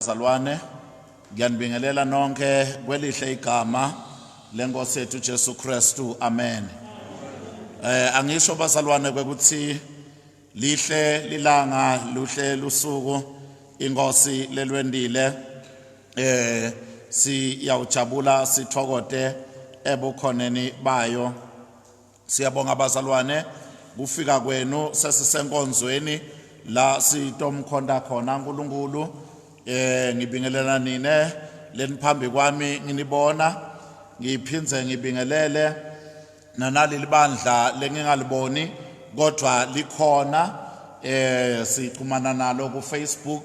Bazalwane, ngiyanibingelela nonke kwelihle igama lenkosi yethu Jesu Kristu. Amen. Eh angisho bazalwane kwekuthi lihle lilanga luhle lusuku inkosi lelwendile eh siyawujabula sithokote ebukhoneni bayo Siyabonga bazalwane kufika kwenu sesisenkonzweni la sitomkhonta khona uNkulunkulu eh ngibingelela nine leniphambi kwami nginibona ngiphindze ngibingelele nanaleli bandla lengingaliboni kodwa likhona eh sixhumana nalo ku Facebook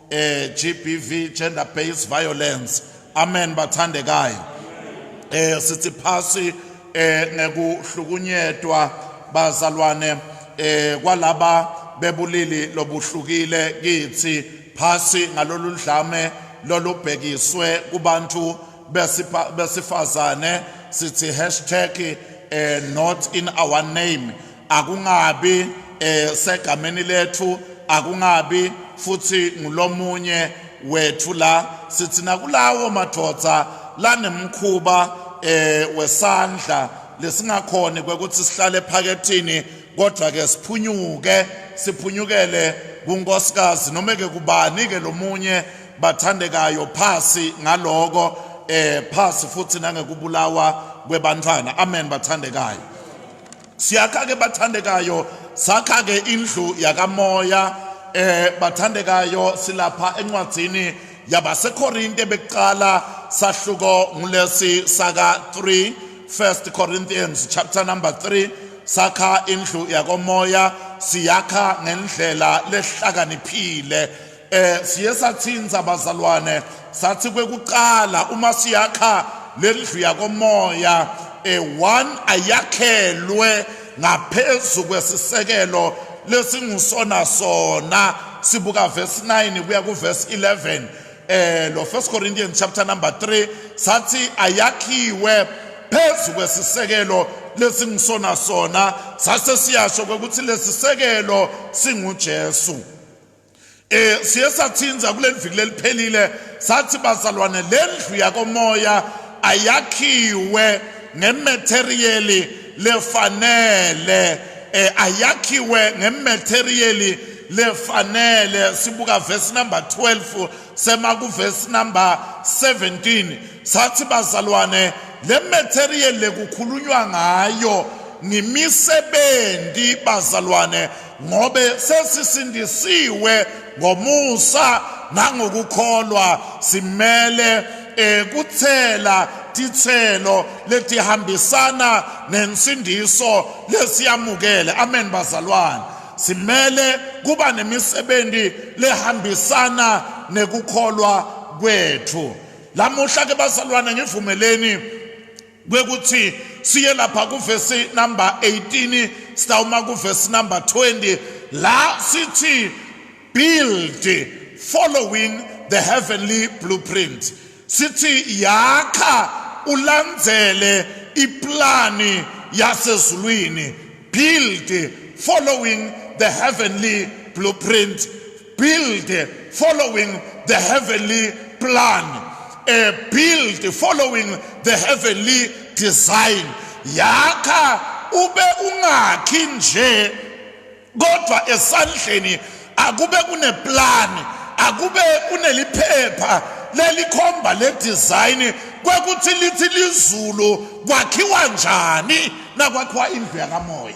eh GBV gender based violence amen bathandekayo eh sithi phasi eh ngekuhlukunyetwa bazalwane eh kwalaba bebulili lobuhlukile kithi phasi ngalolu dlame lolubhekiswe kubantu besifazane sithi hashtag eh not in our name akungabi eh segameni lethu akungabi futhi ngulomunye wethu la sithi nakulawo madoda lanemkhuba eh wesandla lesingakhona kwekuthi sihlale ephakethini kodwa ke siphunyuke siphunyukele kunkosikazi noma ke kubani ke lomunye bathandekayo phasi ngaloko eh phasi futhi nangekubulawa kwebantwana amen bathandekayo Siyakha-ke bathandekayo, sakha-ke indlu yakamoya eh bathandekayo silapha encwadzini yabaseKorinte bekuqala sahluko ngulesi saka 3 1 Corinthians chapter number 3 sakha indlu yakomoya siyakha ngendlela lehlakaniphile Eh siye sathinza abazalwane sathi kwekuqala uma siyakha lendlu yakomoya eh one ayakhelwe ngaphezulu kwesisekelo lesingusona sona sibuka verse 9 kuya ku verse 11 eh lo first corinthians chapter number 3 sathi ayakhiwe phezu kwesisekelo lesingusona sona sase siyasho ukuthi lesisekelo singuJesu Eh siye sathinza kuleli viki leliphelile sathi bazalwane lendlu yakomoya ayakhiwe ngematerial lefanele eh ayakhiwe ngematerial lefanele sibuka verse number 12 sema ku verse number 17 sathi bazalwane le material lekukhulunywa ngayo ngimisebenzi bazalwane ngobe sesisindisiwe ngomusa nangokukholwa simele ekuthela eh, titselo letihambisana nensindiso lesiyamukele amen bazalwane simele kuba nemisebenzi lehambisana nekukholwa kwethu lamuhla ke bazalwane ngivumeleni kwekuthi siye lapha kuvesi number 18 sitawuma kuvesi number 20 la sithi build following the heavenly blueprint sithi yakha ulandzele iplani yasezulwini build following the heavenly blueprint build following the heavenly plan a build following the heavenly design yakha ube ungakhi nje kodwa esandleni akube kuneplan akube kuneliphepha lelikhomba le design kwekuthi lithi lizulu kwakhiwa njani nakwakhiwa indlu yakamoya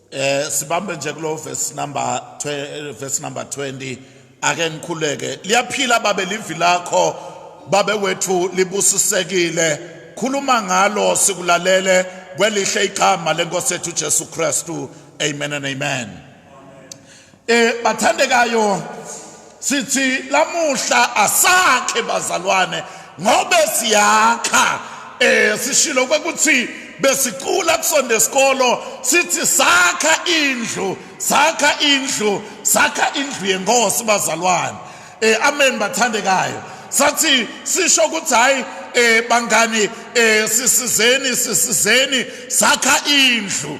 Eh sibambe nje kulo verse number eh, verse number 20 ake ngikhuleke liyaphila babe livi lakho babe wethu libusisekile khuluma ngalo sikulalele kwelihle igama lenkosi yethu Jesu Kristu amen and amen Eh bathandekayo sithi lamuhla asakhe bazalwane ngobe siyakha eh sishilo kwekuthi besicula kusonde isikolo sithi sakha indlu sakha indlu sakha indlu yenkosi bazalwane eh amen bathandekayo sathi sisho ukuthi hayi eh bangani eh sisizeni sisizeni sakha indlu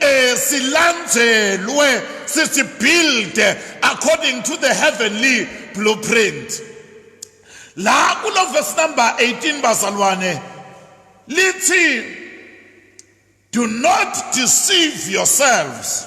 eh silandzelwe sithi build according to the heavenly blueprint la kulo verse number 18 bazalwane lithi do not deceive yourselves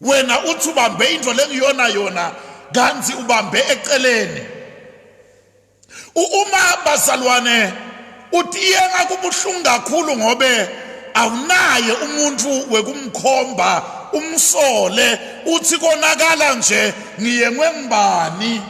Wena uthi ubambe into lengiyona yona kanti ubambe eceleni. Uma bazalwane uthi iyena kubuhlungu kakhulu ngobe awunaye umuntu wekumkhomba umsole uthi konakala nje ngiyengwe ngubani.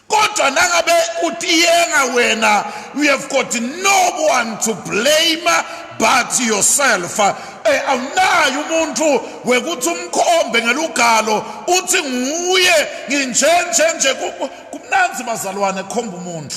kodwa nangabe utiyenga wena you have got no one to blame but yourself eh awunayo umuntu wekuthi umkhombe ngelugalo uthi nguye nginjenjenje kumnanzi bazalwane khomba umuntu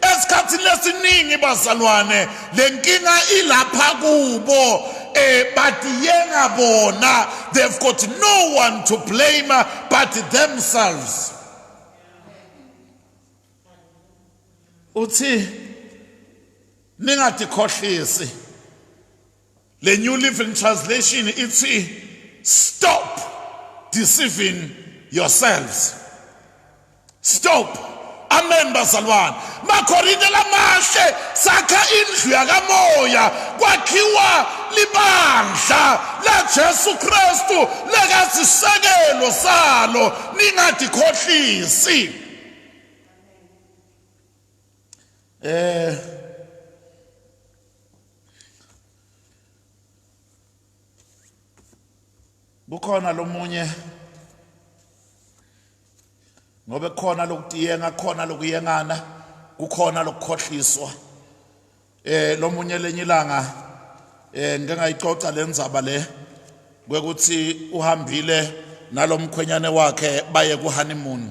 Esikhathini lesiningi bazalwane lenkinga ilapha kubo eh but yenga bona they've got no one to blame but themselves uthi ningatikhohlisi Le New Living Translation ithi stop deceiving yourselves. Stop. Amen bazalwane. Makorinte lamahle sakha indlu yakamoya kwakhiwa libandla laJesu Kristu lekazisekelo salo ningadikhohlisi. Eh kukhona lomunye ngoba kukhona lokutiyenga kukhona lokuyengana kukhona lokukhohliswa eh lomunye lenye ilanga eh ngike ngayixoxa lenzaba le kwekuthi uhambile nalomkhwenyane wakhe baye ku honeymoon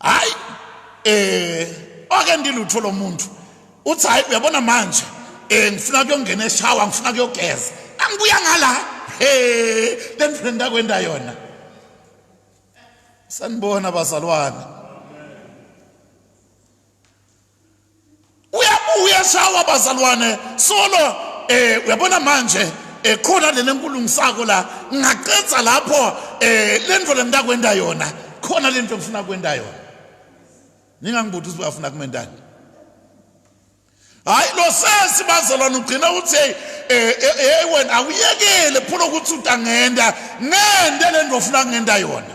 hayi eh ake ndilutho lo muntu uthi hayi uyabona manje eh ngifuna kuyongena eshawa ngifuna kuyogeza angibuya ngala he le mfrenda kwenda yona sanibona bazalwane uyabuya shawa bazalwane solo eh uyabona manje ekhona eh, lena enkulungisako la ngaqedza lapho eh lento lengidakwenda yona khona lento engifuna kwenda yona ningangibuthi ukuthi uyafuna kumendani hayi lo sesi bazalwane ugcina uthi hey eh, eh, eh, wena awuyekele phula ukuthi utangenda ngende lento ofuna ngenda yona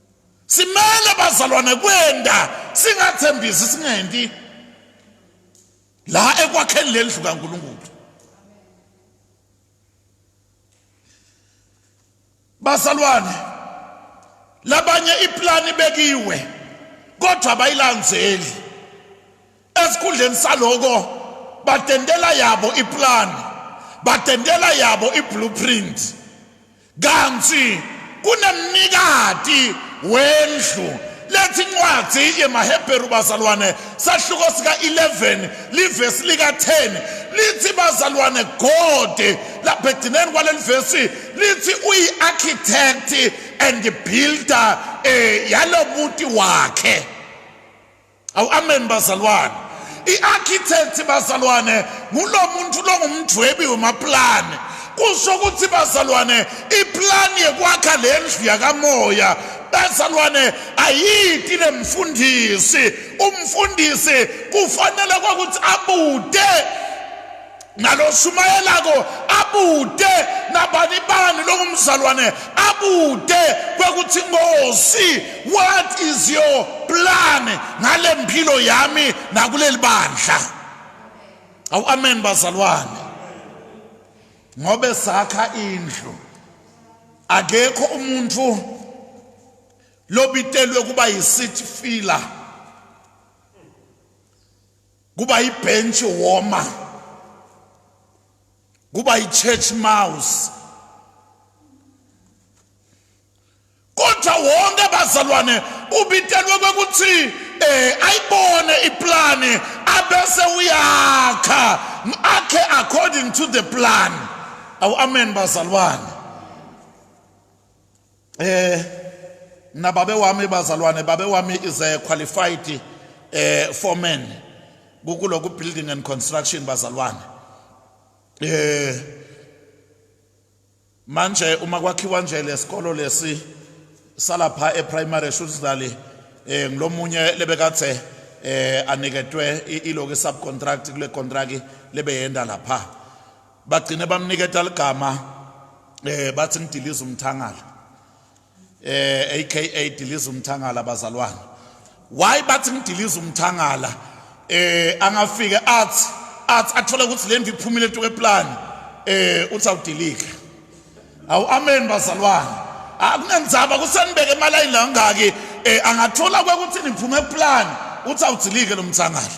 simele bazalwane kwenda singathembisi singenti la ekwakheni lendlu kaNkuluNkulu bazalwane labanye iplani bekiwe kodwa bayilandzeli esikhundleni saloko batendela yabo iplani batendela yabo iblueprint Kanti kunemnikati wendlu lethi incwadi yemaHebheru bazalwane sahluko sika-11 livesi lika-10 lithi bazalwane God lapha ekugcineni kwaleli vesi lithi uyi-architect and builder eh yalobuti wakhe Awu amen bazalwane. I-architect bazalwane ngulo muntu longumdwebi wemaplani. Kusho ukuthi bazalwane iplan yekwakha lendlu yakamoya bazalwane ayiti lemfundisi umfundisi kufanele kwakuthi abude naloshumayelako abude nabanibani lokumzalwane abude kwekuthi ngosi what is your plan ngale mpilo yami nakuleli bandla awu amen bazalwane ngobe sakha indlu akekho umuntu lobitelwe kuba yi-city filler kuba yi-bench warmer kuba yi-church mouse kodwa wonke abazalwane ubitelwe kwekuthi eh ayibone iplani abese uyakha akhe according to the plan awu amen bazalwane eh mina babe wami bazalwane babe wami is a qualified eh foreman kukuloku building and construction bazalwane eh manje uma kwakhiwa nje lesikolo lesi salapha eprimary shutzali eh ngilomunye lebekathe eh aniketwe iloku subcontract kule contract lebeyenda lapha bagcine bamniketa ligama eh bathi ngidiliza umthangala eh aka diliza umthangala bazalwane why bathi ngidiliza umthangala eh angafike athi athi athola ukuthi le ndlu iphumile tu keplan eh uthi awudilika awu amen bazalwane akunenzaba ah, kusenibeke imali ayilangaki eh angathola kwekuthi niphume eplan uthi awudilike lo mthangala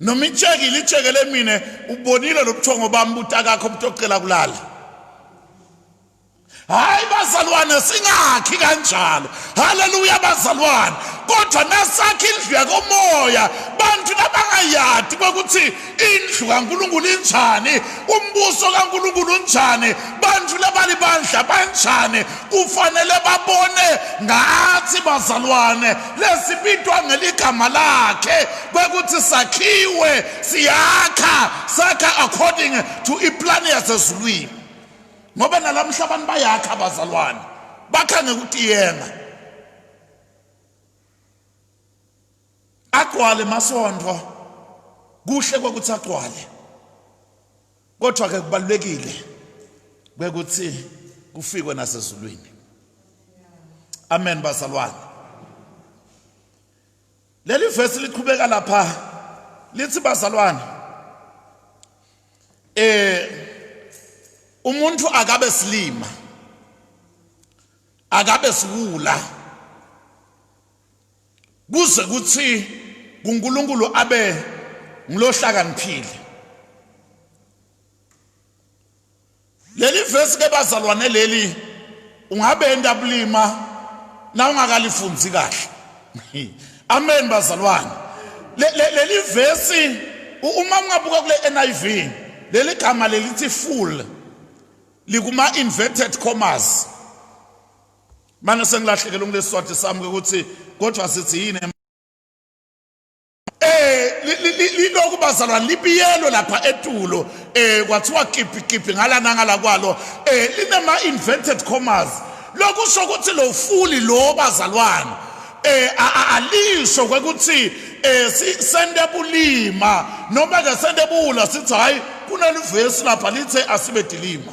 noma itsheki litshekele mina ubonile lobuthongo bami butakakho butocela kulala hayi bazalwane singakhi kanjalo haleluya bazalwane kodwa nasakha indlu yakomoya bantu nabangayadi kokuthi indlu kaNkuluNkulu injani umbuso kaNkuluNkulu unjani bantu labalibandla banjani kufanele babone ngathi bazalwane lesibitwa ngeligama lakhe kwekuthi sakhiwe siyakha sakha according to iplani yasezulwini ngoba nalamhla abantu bayakha abazalwane bakha ngekutiyenga agcwale masondo kuhle kokuthi agcwale kodwa ke kubalulekile ukuthi kufikwe nasezulwini amen bazalwane leli verse liqhubeka lapha lithi bazalwane eh umuntu akabe silima akabe siwula Kuze kuthi kuNkulunkulu abe ngilohlakaniphile. Leli vesi ke bazalwane leli ungabe enda bulima na ungakalifunzi kahle. Amen bazalwane. Leli vesi uma ungabuka kule NIV leli gama lelithi full likuma inverted commas Manje sengilahlekelwe ngilesiswati sami ukuthi kodwa sithi yini lokhu bazalwane libiyelwe lapha etulo eh kwathiwa kiphi kiphi ngala nangala kwalo eh linema invented commas lokusho ukuthi lo fuli lo bazalwane eh alisho ukuthi eh sisende bulima noma ke sende bula sithi hayi kunalivesi lapha lithe asibe dilima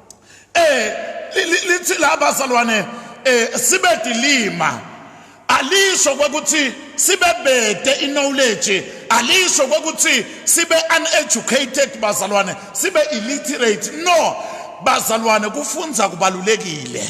eh lithi la bazalwane eh sibe dilima alisho ukuthi sibe bede iknowledge alisho ukuthi sibe uneducated bazalwane sibe illiterate no bazalwane kufunza kubalulekile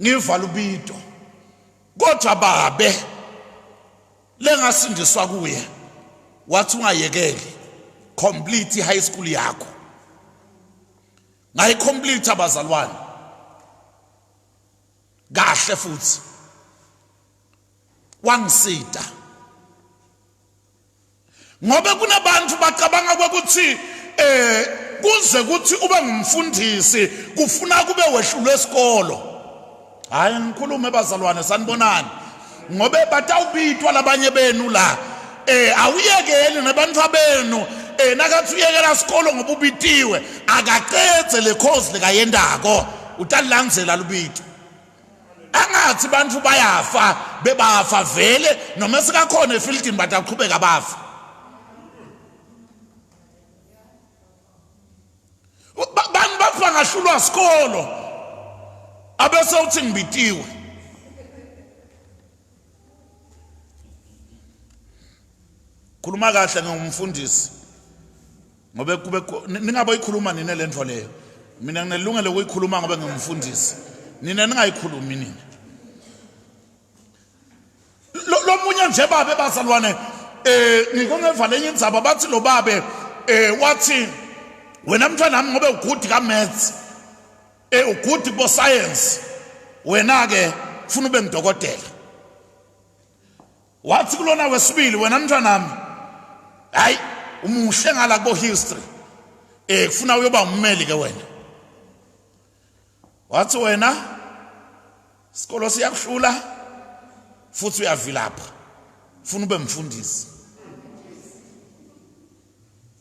ngivala ubido kodwa babe lengasindiswa kuye wathi ungayekeli complete high school yakho ngayi complete abazalwane kahle futhi wangisida ngoba kunabantu bacabanga ukuthi eh kuze kuthi ube ngumfundisi kufuna kube wehlulwe esikolo hayi ngikhulume bazalwane sanibonani ngobe batawubitwa labanye benu la eh awuyekeli nabantu abenu eh nakathi uyekela isikolo ngoba ubitiwe akaqedze le course likayendako utalilandzela lubito angathi bantu bayafa bebafa vele noma sikakhona efieldini but aqhubeka bafa bantu bafa ngahlulwa sikolo abese uthi ngibitiwe khuluma kahle ngomfundisi ngobe kube ningaboyikhuluma nine le nto leyo mina nginelungelo ukuyikhuluma ngobe ngingumfundisi nina ningayikhulumi nina lomunye nje babe bazalwane eh ngiko ngevale enye indzaba bathi lo babe eh wathi wena mntwana nami ngobe ugudi ka maths eh ugudi bo science wena ke ufuna ube ngidokotela Wathi kulona wesibili wena mntwanami hayi umuhle ngala ko history eh kufuna uyoba ummeli ke wena wathi wena isikolo siyakuhlula futhi uyavilapha funa ube mfundisi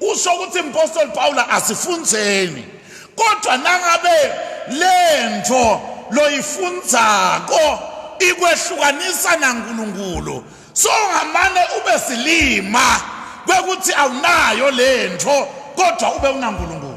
Usho ukuthi impostoli Pawula asifundzeni kodwa nangabe lento loyifundzako ikwehlukanisa naNkulunkulu so ngamane ube silima kwekuthi awunayo lento kodwa ube unaNkulunkulu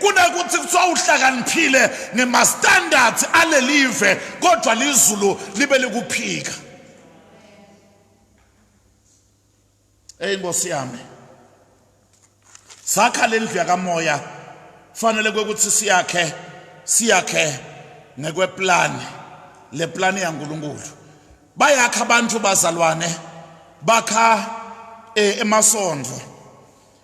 Kunakuthi kuthiwa uhlakaniphile ngemastandards alelive kodwa lizulu libe likuphika. Hey Nkosi yami. Sakha lendlu yakamoya fanele kwekuthi siyakhe siyakhe ngekweplan le plan yaNkuluNkulu. Bayakha abantu bazalwane bakha eh, emasondlo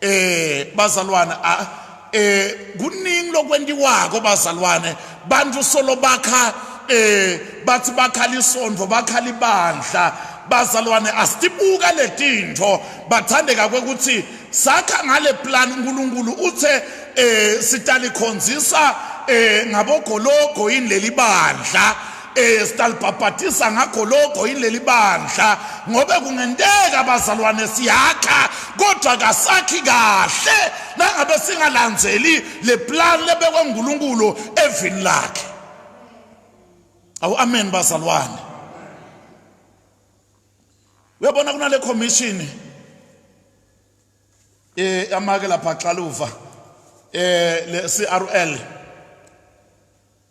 eh bazalwane ah, eh kuningi lokwentiwako bazalwane bantu solo bakha eh bathi bakhala isondvo bakhala ibandla bazalwane asibuka letintho bathandeka kwekuthi sakha ngale plan uNkulunkulu uthe eh sitalikhonzisa eh ngabogologo yini lelibandla esitalibhabhatisa ngakho lokho yileli bandla ngoba kungenteka abazalwane siyakha kodwa kasakhi kahle nangabe singalandzeli le plan lebekwe nguNkulunkulu evini lakhe awu amen bazalwane uyabona kunale commission eh amake lapha xaluva eh le CRL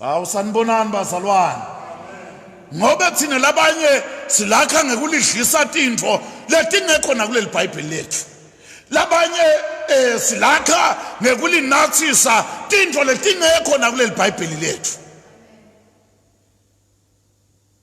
Hawu sanibonani bazalwane. Ngoba thina labanye silakha ngekulidlisa tintfo letingekho nakuleli Bhayibheli lethu. Labanye eh silakha ngekulinathisa tintfo letingekho nakuleli Bhayibheli lethu.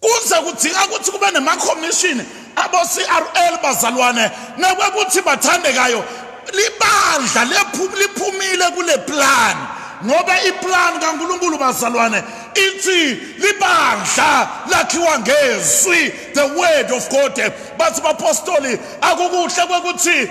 kuze kudinga ukuthi kube nemakhomishini abo-crl bazalwane nakwekuthi bathandekayo libandla liphumile kule plan ngoba iplan kankulunkulu bazalwane ithi libandla lakhiwa ngezwi the word of god bathi bapostoli akukuhle kwekuthi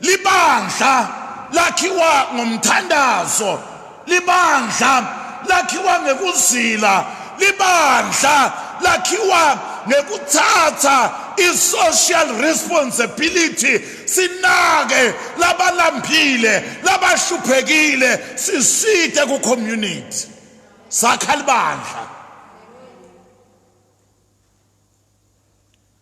Libandla lakhiwa ngomthandazo, libandla lakhiwa ngekuzila, libandla lakhiwa ngekuthatha i-social responsibility sinake labalambile labahluphekile siside ku-community sakha libandla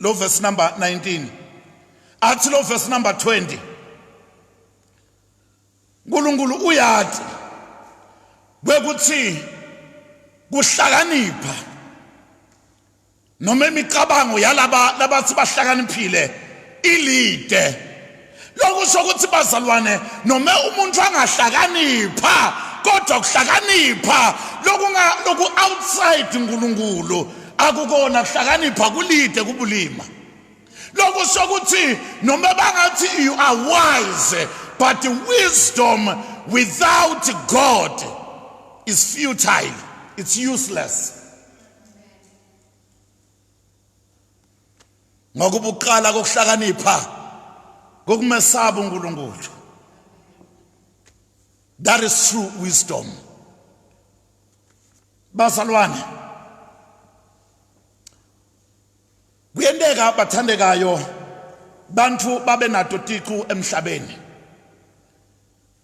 lo verse number 19 athi lo verse number 20 uNkulunkulu uyathi kwekuthi kuhlakanipha noma imicabango yalaba labathi bahlakaniphile ilide Lokusho ukuthi bazalwane noma umuntu angahlakanipha kodwa kuhlakanipha lokunga loku outside uNkulunkulu akukona kuhlakanipha kulide kubulima. Lokusho ukuthi noma bangathi you are wise but wisdom without God is futile it's useless. ngokubuqala kokuhlakanipha kokumesaba uNkulunkulu that is true wisdom bazalwane kuyenteka bathandekayo bantu babe nato tiqu emhlabeni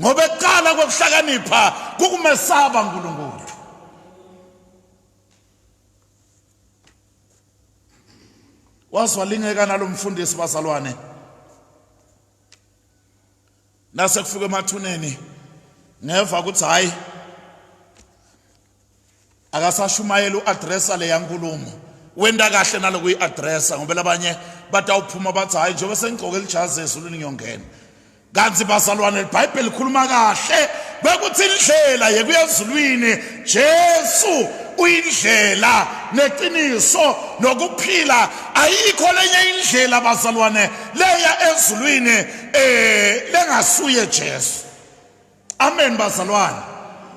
ngoba ekuqala kokuhlakanipha kukumesaba uNkulunkulu wazwalingeka nalomfundisi bazalwane nase kufika emathuneni ngeva ukuthi hayi akasashumayeli u-adressa leya nkulumo wenta kahle nalokuyi-adressa ngoba labanye batawuphuma bathi hhayi njengoba sengigqoke lijazi ezulwini ngiyongena kanti bazalwane libhayibheli likhuluma kahle bekuthi indlela yekuya ezulwini jesu uyindlela neqiniso nokuphila ayikho lenye indlela bazalwane leya ezulwini um lengasuye jesu Amen bazalwane.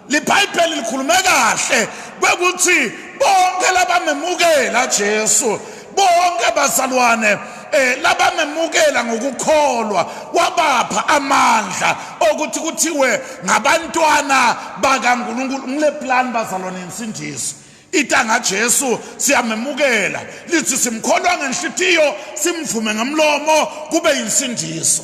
LiBhayibheli likhulume kahle kwekuthi bonke labamemukela Jesu bonke bazalwane eh labamemukela ngokukholwa wabapha amandla okuthi kuthiwe ngabantwana bakaNkulunkulu ngile plan bazalwane insindiso itanga Jesu siyamemukela lithi simkholwa ngenhlitiyo simvume ngamlomo kube insindiso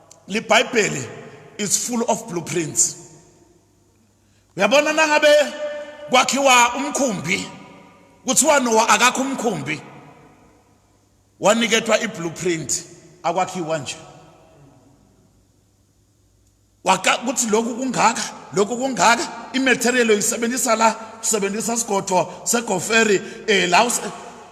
libhayibheli is full of blueprints uyabona nangabe kwakhiwa umkhumbi kuthiwa nowa akakho umkhumbi waniketwa i-blueprint akwakhiwa nje waka kuthi lokhu kungaka lokhu kungaka imaterial oyisebenzisa la usebenzisa isigodo segoferi eh la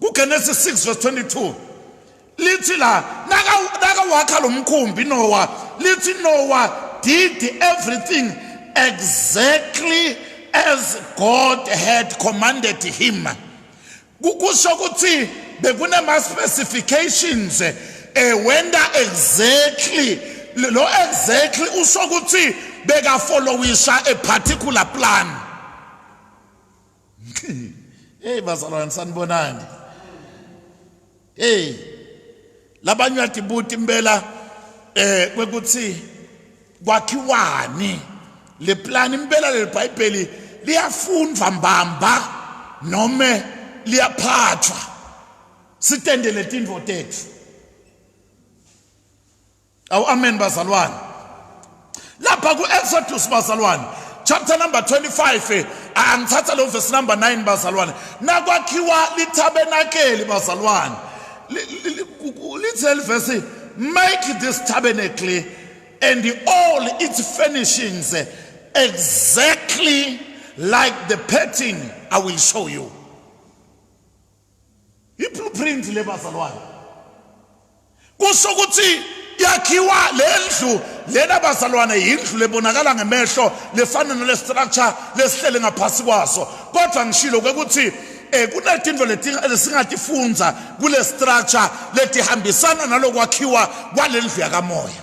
KuGenesis 6 verse 22 lithi la nakawakha lo mkhumbi Noah lithi Noah did everything exactly as God had commanded him kusho ukuthi bekunema specifications eh wenda exactly lo exactly usho ukuthi beka followisha a particular plan hey bazalwane sanibonani hey labanye wathi buti impela eh kwekuthi kwakhiwani le plan impela le bhayibheli liyafundwa mbamba noma liyaphathwa sitendele tindvo tethu Awu amen bazalwane. Lapha ku Exodus bazalwane chapter number 25 eh, angithatha lo verse number 9 bazalwane nakwakhiwa litabenakeli bazalwane lithe livesi make this tabernacle and all its furnishings eh, exactly like the pattern I will show you I-blueprint le bazalwane kusho ukuthi yakhiwa le ndlu lena bazalwane yindlu lebonakala ngemehlo lefana nale structure lesihlele ngaphasi kwaso kodwa ngishilo ukuthi eh kunezinto lesingatifunza kule structure letihambisana nalokwakhiwa kwalendlu yakamoya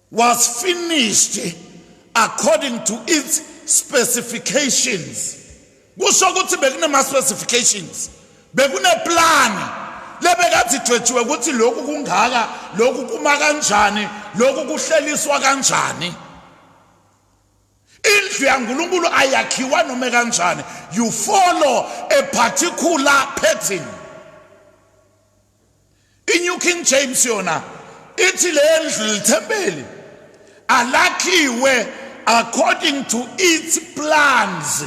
was finished according to its specifications kusho ukuthi bekunama specifications bekune plan lebekathi idwetshiwe ukuthi lokhu kungaka lokhu kuma kanjani lokhu kuhleliswa kanjani indlu yaNkulunkulu ayakhiwa noma kanjani you follow a particular pattern I-New King James yona ithi lendlu lithempeli alakhiwe according to its plans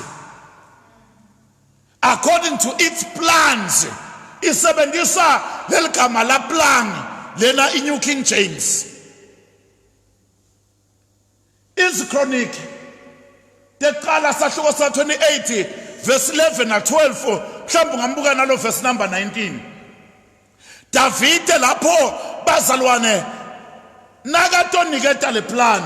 according to its plans isebenzisa leligama la plan lena i-New King James Izikroniki teqala sahluko sa 28 verse 11 na 12 mhlawumbe ungambuka nalo verse number 19 Davide lapho bazalwane nakatoniketa le plan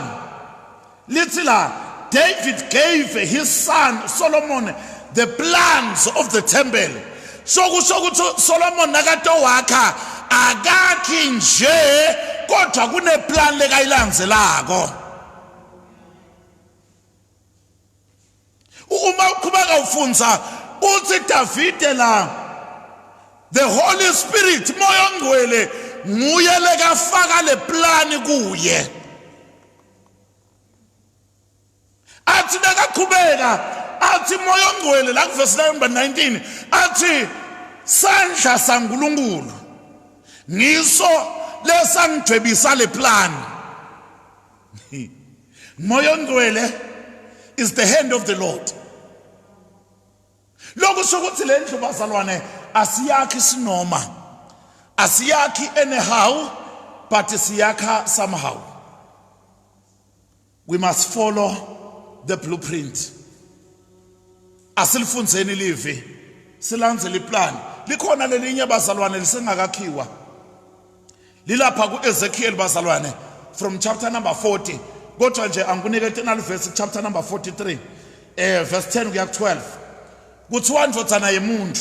lithi la David gave his son Solomon the plans of the temple So kusho ukuthi Solomon nakade wakha akakhi nje kodwa kuneplan lekayilandzelako. Uma uqhubeka ufundza uthi Davide la the Holy Spirit moya ongcwele nguye lekafaka le plan kuye. athi nakaqhubeka athi moya ongcwele la kuvesi layo number 19 athi sandla sankulunkulu ngiso lesangijwebisa le plan moya ongcwele is the hand of the lord lokusho ukuthi le ndlu bazalwane asiyakhi sinoma asiyakhi anyhow but siyakha somehow We must follow the blueprint. Asilifundzeni livi, silandzele iplan. Likhona lelinye bazalwane lisengakakhiwa. Lilapha ku-Ezekiel bazalwane from chapter number 40 kodwa nje angikunike tenali verse chapter number 43 eh verse 10 kuya ku-12 kuthiwa ndvodzana yemuntu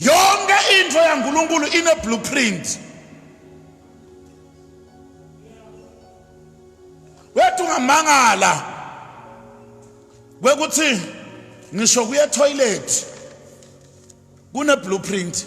yonke into yaNkulunkulu ine blueprint wethu ngamangala kwekuthi ngisho kuye toilet kune blueprint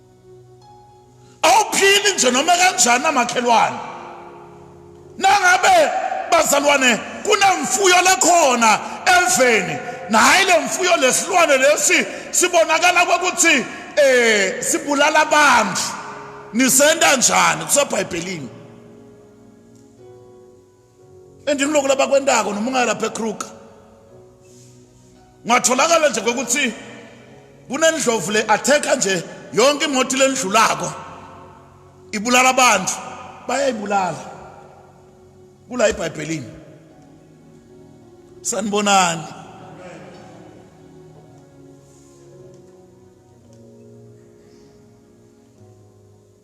awuphili nje noma kanjani amakhelwane nangabe bazalwane kunemfuyo lekhona eveni nahayi le mfuyo lesilwane lesi sibonakala kokuthi eh sibulala abantu nisenda njani kusebhayibhelini and kuloko labakwentako noma ungaya lapha ekruger ngatholakala nje kokuthi kunendlovu le atheka nje yonke imoto lendlulako ibulala abantu bayayibulala kula ebhayibhelini sanibonani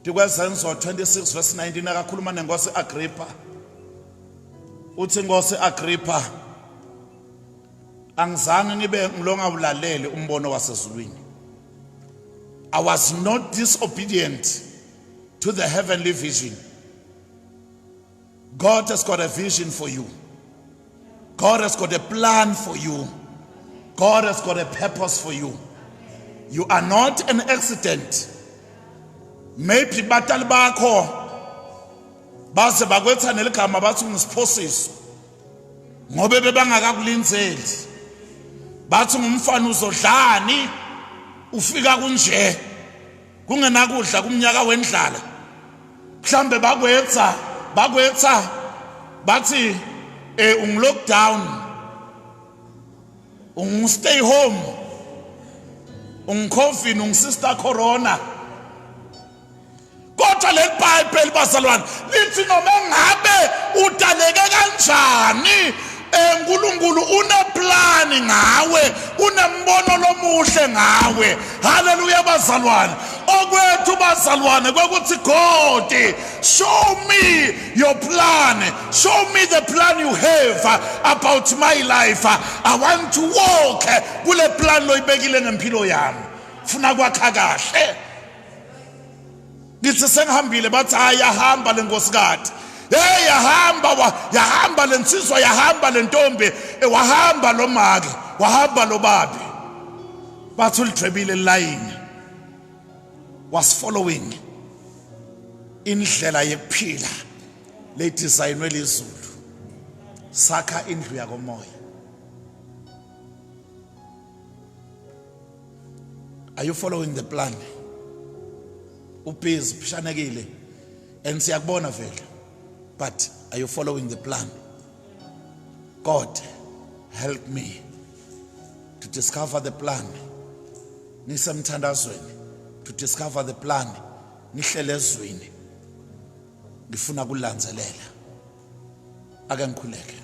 Ndikwezenzo 26 verse 19 akakhuluma nenkosi Agrippa. Uthi inkosi Agrippa angizange ngibe ngilonga ulalele umbono wasezulwini. I was not disobedient to the heavenly vision. God has got a vision for you. God has got a plan for you. God has got a purpose for you. You are not an accident. Maybe batali bakho baze bakwetha neligama bathi ungisiphosis ngobe bebangakakulinzeli bathi ngumfana uzodlani ufika kunje kungenakudla kumnyaka wendlala mhlambe bakwenza bakwenza bathi eh ungilockdown ungistay home ungicovid ungisister corona kodwa leli bhayibheli bazalwane lithi noma ngabe udaleke kanjani Eh uNkulunkulu uneplani ngawe, unembono lomuhle ngawe. Haleluya bazalwane. Okwethu bazalwane kwekuthi God, show me your plan. Show me the plan you have about my life. I want to walk kule plan loyibekile ngempilo yami. Funa kwakha kahle. ngithi sengihambile bathi hayi yahamba le nkosikade hey yahamba yahamba le nsizwa yahamba le ntombi eh, wahamba lo make wahamba lo babi bathi ulidwebile line was following indlela yekuphila ledesignwe lizulu sakha indlu yakomoya are you following the plan ubhizi phishanekile and siyakubona vele but are you following the plan god help me to discover the plan ngisemthandazweni to discover the plan ngihlele ezwini ngifuna kulandzelela ake ngikhuleke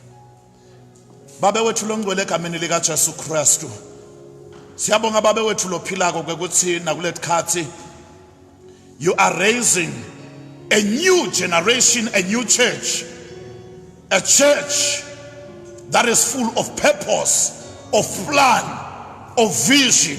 Babe wethu longcwele egameni lika Jesu Kristu. Siyabonga babe wethu lophilako ukuthi nakuletikhathi you are raising a new generation, a new church. A church that is full of purpose, of plan, of vision.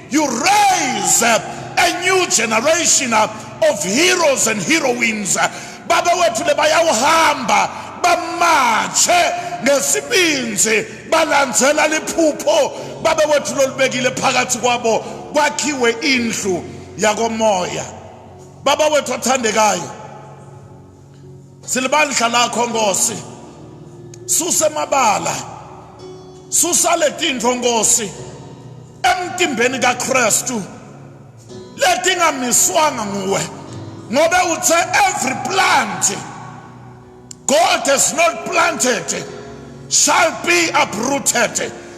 You raise up a new generation of heroes and heroines. Baba wethu lebayawuhamba bamatshe ngesibinzi balandzela liphupho baba wethu lolibekile phakathi kwabo kwakhiwe indlu yakomoya baba wethu othandekayo silibandla lakho nkosi susa emabala susa letintfo nkosi emtimbeni kaKristu letingamiswanga nguwe ngobe uthe every plant God has not planted shall be uprooted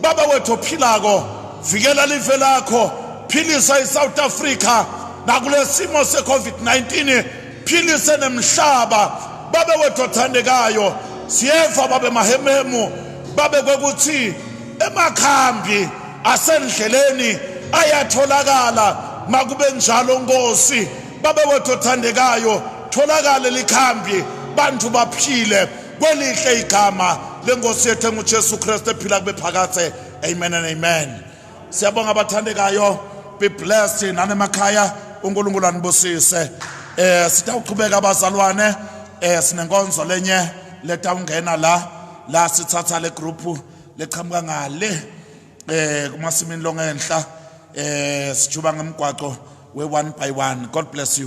Baba wethu ophilako, vikela live lakho, philisa iSouth Africa nakulesimo seCovid-19, philise nemhlaba. Baba wethu othandekayo, siyeva babe mahememu, babe kwekuthi emakhambi asendleleni ayatholakala makube njalo Nkosi. Baba wethu othandekayo, tholakale likhambi, bantu baphile. kwelihle igama lenkosi yethu engujesu kristu ephila kube phakathe amen and amen siyabonga abathandekayo be blessed nanemakhaya unkulunkulu anibusise eh sitawuqhubeka abazalwane eh sinenkonzo lenye letawungena la la sithatha le group leqhamuka ngale eh kumasimini longenhla eh sijuba ngemgwaco we one by one god bless you